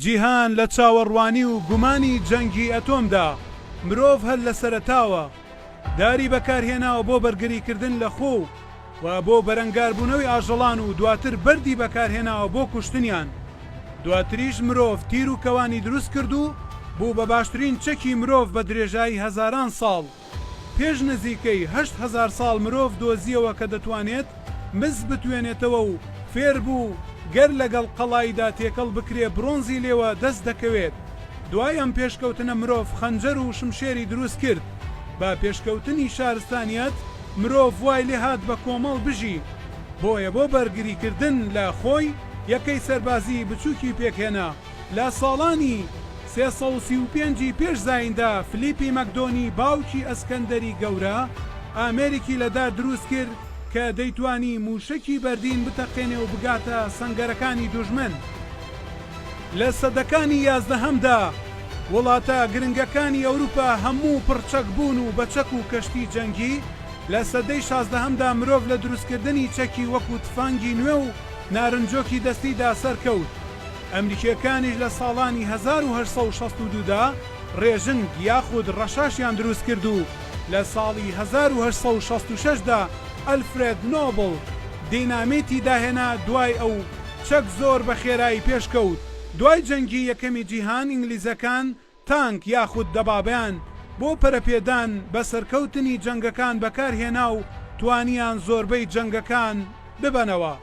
جیهان لە چاوەڕوانی و گومانی جەنگی ئەتۆمدا، مرۆڤ هەر لە سەرەتاوە داری بەکارهێناوە بۆ بەرگریکردن لە خۆ و و بۆ بەرەنگاربوونەوەی ئاژەڵان و دواتر بەردی بەکارهێناوە بۆ کوشتنیان. دواتریش مرۆڤ تیر و کەوانی دروست کرد و بوو بە باشترین چەکی مرۆڤ بە درێژایی هەزاران ساڵ. پێش نزیکەی هەشت هەزار ساڵ مرۆڤ دۆزییەوە کە دەتوانێت مس بتوێنێتەوە و فێر بوو گەر لەگەڵ قەڵاییدا تێکەڵ بکرێ برۆنزی لێوە دەست دەکەوێت. دوای ئەم پێشکەوتنە مرۆڤ خەنجەر و شمشێری دروست کرد. بە پێشکەوتنی شارستانیەت مرۆڤ وای لێ هات بە کۆمەڵ بژی. بۆیە بۆ بەرگریکردن لە خۆی یەکەی سەربازیی بچووکی پێک هێنا. لە ساڵانی سێ سەد و سی و پێنج ی پێش زاییندا فلیپی مەکدۆنی باوکی ئەسکەندەری گەورە ئامێرێکی لە دار دروست کرد کە دەیتوانی مووشەکی بەردین بتەقێنێ و بگاتە سەنگەرەکانی دوژمن. لە سەدەکانی یازدەهەمدا وڵاتە گرنگەکانی ئەوروپا هەموو پڕ چەک بوون و بە چەک و کەشتی جەنگی، لە سەدەی شازدەهەمدا مرۆڤ لە دروستکردنی چەکی وەکوو تفەنگی نوێ و نارنجۆکی دەستیدا سەرکەوت. ئەمریکییەکانیش لە ساڵانی هەزار و هەشت سەد و شەست و دوو دا ڕێژنگ یاخود ڕەشاشیان دروست کرد و لە ساڵی هەزار و هەشت سەد و شەست و شەش دا ئەلفرێد نۆبڵ دینامیتی داهێنا دوای ئەو چەک زۆر بە خێرایی پێشکەوت دوای جەنگی یەکەمی جیهان ئینگلیزەکان تانک یاخود دەبابەیان بۆ پەرەپێدان بە سەرکەوتنی جەنگەکان بەکارهێنا و توانیان زۆربەی جەنگەکان ببەنەوە.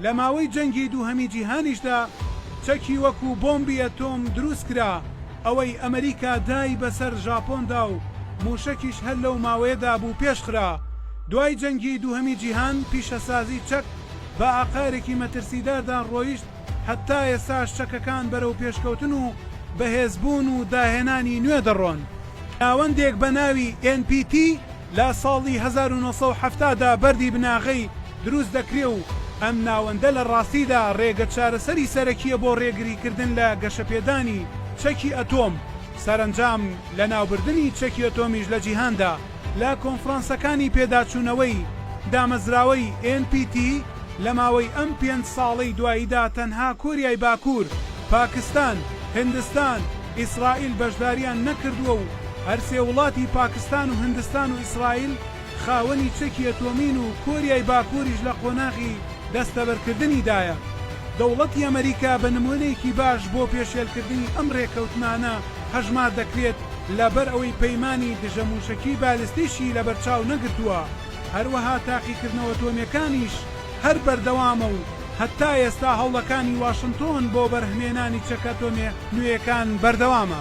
لە ماوەی جەنگی دووهەمی جیهانیشدا چەکی وەکو بۆمبی ئەتۆم دروستکرا، ئەوەی ئەمریکا دای بەسەر ژاپۆندا و موشەکیش هەر لەو ماوەیەدا بوو پێشخرا. دوای جەنگی دووهەمی جیهان پیشەسازی چەک بە ئاقارێکی مەترسیداردا ڕۆیشت، هەتا ئێستاش چەکەکان بەرەو پێشکەوتن و بەهێزبوون و داهێنانی نوێ دەڕۆن. ناوەندێک بە ناوی ئێن پی تی لە ساڵی هەزار و نۆ سەد و حەفتا دا بەردی بناغەی دروست دەکرێ و ئەم ناوەندە لە ڕاستیدا ڕێگە چارەسەری سەرەکییە بۆ ڕێگریکردن لە گەشەپێدانی چەکی ئەتۆم، سەرەنجام لەناوبردنی چەکی ئەتۆمیش لە جیهاندا. لە کۆنفرانسەکانی پێداچوونەوەی دامەزراوەی ئێن پی تی لە ماوەی ئەم پێنج ساڵەی دواییدا تەنها کۆریای باکوور، پاکستان، هندستان، ئیسرائیل بەشدارییان نەکردووە و هەرسێ وڵاتی پاکستان و هندستان و ئیسرائیل خاوەنی چەکی ئەتۆمین و کۆریای باکووریش لە قۆناغی دەستەبەرکردنیدایە. دەوڵەتی ئەمەریکا بە نموونەیەکی باش بۆ پێشێلکردنی ئەم رێککەوتنانە هەژمار دەکرێت لەبەر ئەوەی پەیمانی دژە مووشەکی بالستیشی لەبەر چاو نەگرتووە، هەروەها تاقیکردنەوە ئەتۆمییەکانیش هەر بەردەوامە و هەتا ئێستا هەوڵەکانی واشنتۆن بۆ بەرهمێنانی چەکە ئەتۆمییە نوێیەکان بەردەوامە.